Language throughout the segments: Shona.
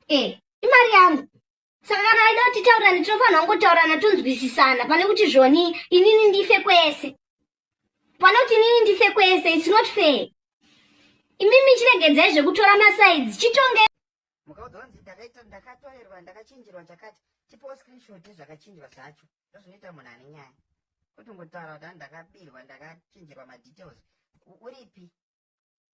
eh imari yangu saka kana vaida kuti titaurane tinofanira kungotaurana tonzwisisana pane kuti zvoni inini ndife kwese pane kuti inini ndife kwese its not fair imimi chiregedzai zvekutora masaids chitonge mukaudzwa kunzi ndakaita ndakatorerwa ndakachinjirwa chakati tipewo screenshot nezvakachinjwa zvacho ndozvinoita munhu ane nyaya kuti ngotaura kuti ndakabirwa ndakachinjirwa madetails uripi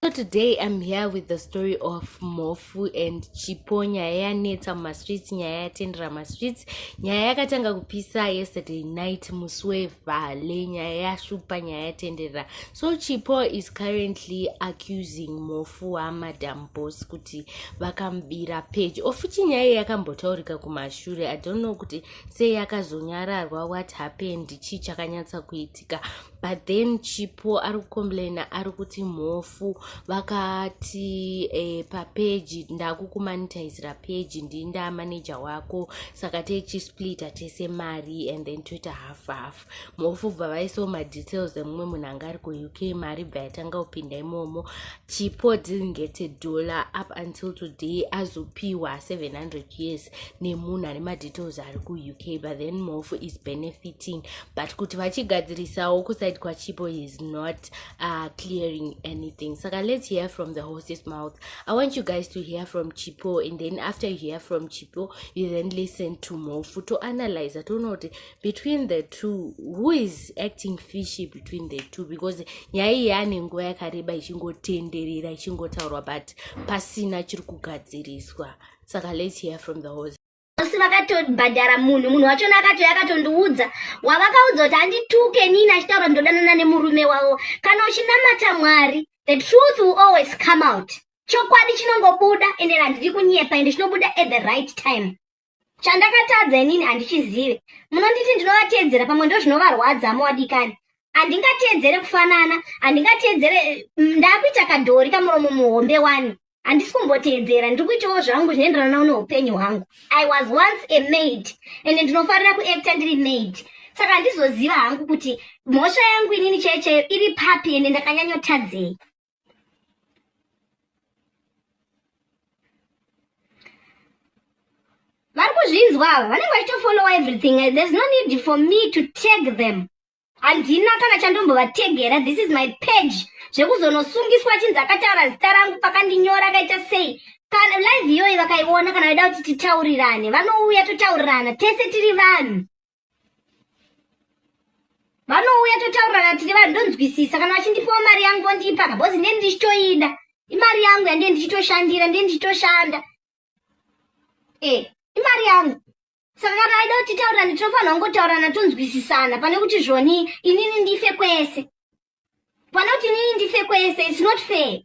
So today I'm here with the story of Mofu and Chipo nyaya yanetsa mumastreets nyaya yatendera mastreets nyaya yakatanga kupisa yesterday night musi wevhale nyaya yashupa nyaya yatendera so Chipo is currently accusing Mofu wamadam boss kuti vakamubira page ofuti nyaya iyi yakambotaurika kumashure I don't know kuti sei yakazonyararwa what happened chii chakanyatsa kuitika but then chipo ari kucomplaina ari kuti mhofu vakati eh, papeji ndakukumanitizira peji ndii ndaa manager wako saka techisplita tese mari and then toita half half mhofu bva vaisawo madetails emumwe munhu anga ari kuuk mari bva yatanga kupinda imomo chipo didn't get a dollar up until today azopiwa 700 years nemunhu ane madetails ari kuuk but then mofu is benefiting but kuti vachigadzirisawo kusaidi kwachipo is not uh, clearing anything saka let's hear from the horses mouth i want you guys to hear from chipo and then after you hear from chipo you then listen to mofu to analyze toona kuti between the two who is acting fishy between the two because nyaya iyi ane nguva yakareba ichingotenderera ichingotaurwa but pasina chiri kugadziriswa saka let's hear from the horse asi vakatobhadhara munhu munhu wachona akatouya akatondiudza wavakaudza kuti handituke nini achitaura ndodanana nemurume wavo kana uchinamata mwari the truth will always come out chokwadi chinongobuda ende handidi kunyepa ende chinobuda at the right time chandakatadza inini handichizive munonditi ndinovateedzera pamwe ndo zvinovarwadza amowadikani handingateedzere kufanana handingateedzere mm, ndakuita kadhori kamuromo muhombe wani handisi kumboteedzera ndiri kuitawo zvangu zvinoenderanawo neupenyu hwangu i was once a maid and ndinofarira kuacta ndiri maid saka handizoziva hangu kuti mhosva yangu inini chaiyo chaiyo iri papi ende ndakanyanyotadzei vari kuzvinzwa ava vanenge vachitofolowa everything there's no need for me to tag them handina kana chandombovategera this is my page zvekuzonosungiswa achinzi akataura zita rangu pakandinyora akaita sei kana live iyoyi vakaiona kana vaida kuti titaurirane vanouya totaurirana tese tiri vanhu vanouya totaurirana tiri vanhu ndonzwisisa kana vachindipawo mari yangu vondipa kabhozi ndiye ndichitoida imari yangu yandiye ndichitoshandira ndiye ndichitoshanda e eh, imari yangu saka kana aida kuti taura nditofanira kungotaurana tonzwisisana pane kuti zvoni inini ndife kwese pane kuti inini ndife kwese its not fair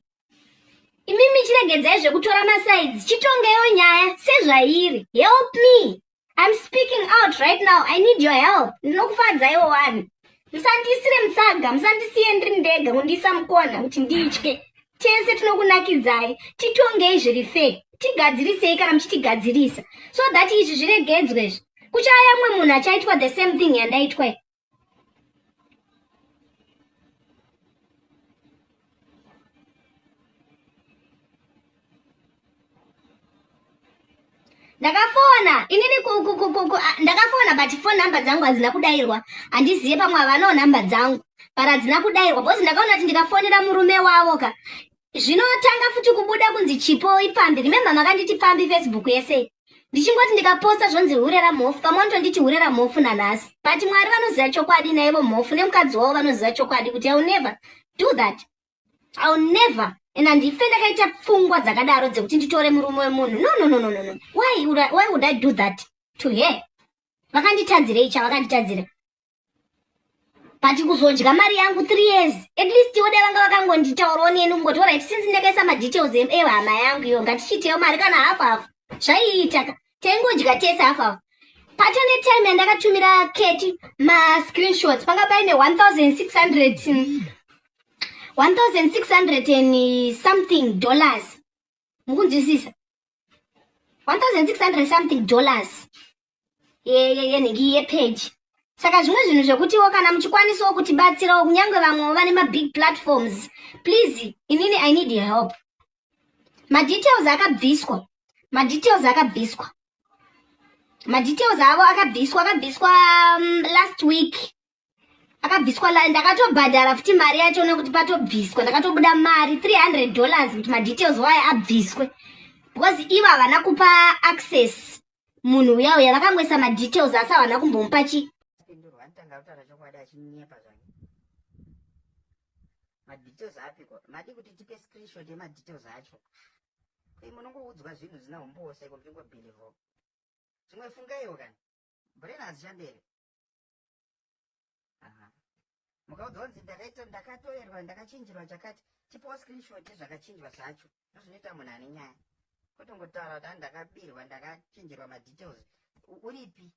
imimi chiregedzai zvekutora masides chitongeyo nyaya sezvairi help me im speaking out right now i need your help ndinokufadzaiwo wani musandiisire mutsaga musandisiye ndiri ndega kundiisa mukona kuti nditye tese tinokunakidzai titongei zviri fee tigadzirisei kana muchitigadzirisa so that izvi zviregedzwe izvi kuchaya mumwe munhu achaitwa the same thing yandaitwa i ndakafona inini ndakafona but fone number dzangu hadzina kudairwa handizive pamwe havanawo number dzangu but hadzina kudairwa bcause ndakaona kuti ndikafonera murume wavo ka zvinotanga futi kubuda kunzi chipo ipfambi remember makanditi pfambi facebook yese ndichingoti ndikaposta zvonzi hure ramhofu pamwe nditonditi hure ramhofu nanhasi but mwari vanoziva chokwadi naivo mhofu nemukadzi wavo vanoziva chokwadi kuti iwill never do that I'll never and handife ndakaita pfungwa dzakadaro dzekuti nditore murume wemunhu no no no no no why would I, why would I do that to her vakanditadzirei chavakanditadzira but kuzodya mari yangu three years at least ivo dai vanga vakangonditaurawo neni kungoti orit since ndakaisa madetails ehama yangu iyo ngatichiiteyo mari kana hafu hafu zvaiitaka taingodya tese half hour patone time yandakatumira keti mascreenshots panga paine 1600 1600 and something dollars mukunzwisisa 1600 something dollars yenhingi yepeji saka zvimwe zvinhu zvekutiwo kana muchikwanisawo kutibatsirawo kunyange vamwewo vane mabig platforms please inini i need your help madetails akabviswa madetails akabviswa madetails avo akabviswa akabviswa um, last week akabviswa ndakatobhadhara futi mari yacho nekuti patobviswa ndakatobuda mari 300 dollars kuti madetails waye abviswe because ivo havana kupa access munhu uya uya vakangoisa madetails asi havana kumbomupa chi madetails apiko madi kuti tipe screenshot yemadetails acho koi munongoudzwa zvinhu zina humbowo seko muchingobhilivho zvimwe fungaiwo kani brain hazichandere mukaudzwa kunzi ndakaita ndakatoerwa ndakachinjirwa chakati tipawo screenshot yezvakachinjwa zvacho ndozvinoita munhu ane nyaya kotongotaura kuti ani ndakabirwa ndakachinjirwa madetails uripi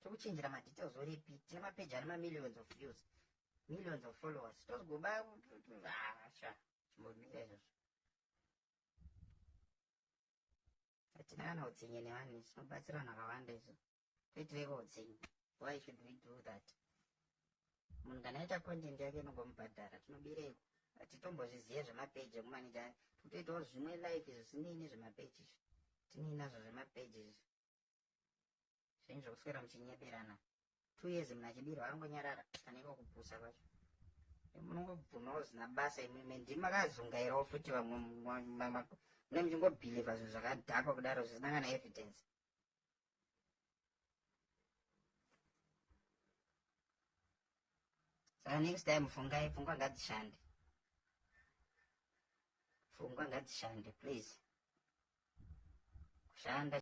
tokuchinjira madetails uripi tine mapeji ane mamillions of views millions of followers tozogoba asha ah, chimbomira izvozvo Hatina kana utsinye nevanhu izvi tinobatsira vanhu vakawanda izvo. Toitireiko utsinye? Why should we do that? Munhu kana aita content yake inogomubhadhara tinobireiko? Hatitombozvizive zvemapeji ekumanija totoitawo zvimwe life izvo zvisinei nezvemapeji izvi. Tinei nazvo zvemapeji izvi. zvenyu zvekuswera muchinyeberana two years mna chibiro angonyarara aneko kupusa kwacho munongobvumawo zina basa imimi ndimi makazungairawo futi vamwe mune muchingobhilivha zvinhu zvakadhakwa kudaro zvisina kana evidence saka next time fungai pfungwa ngadzishande pfungwa ngadzishande please kushanda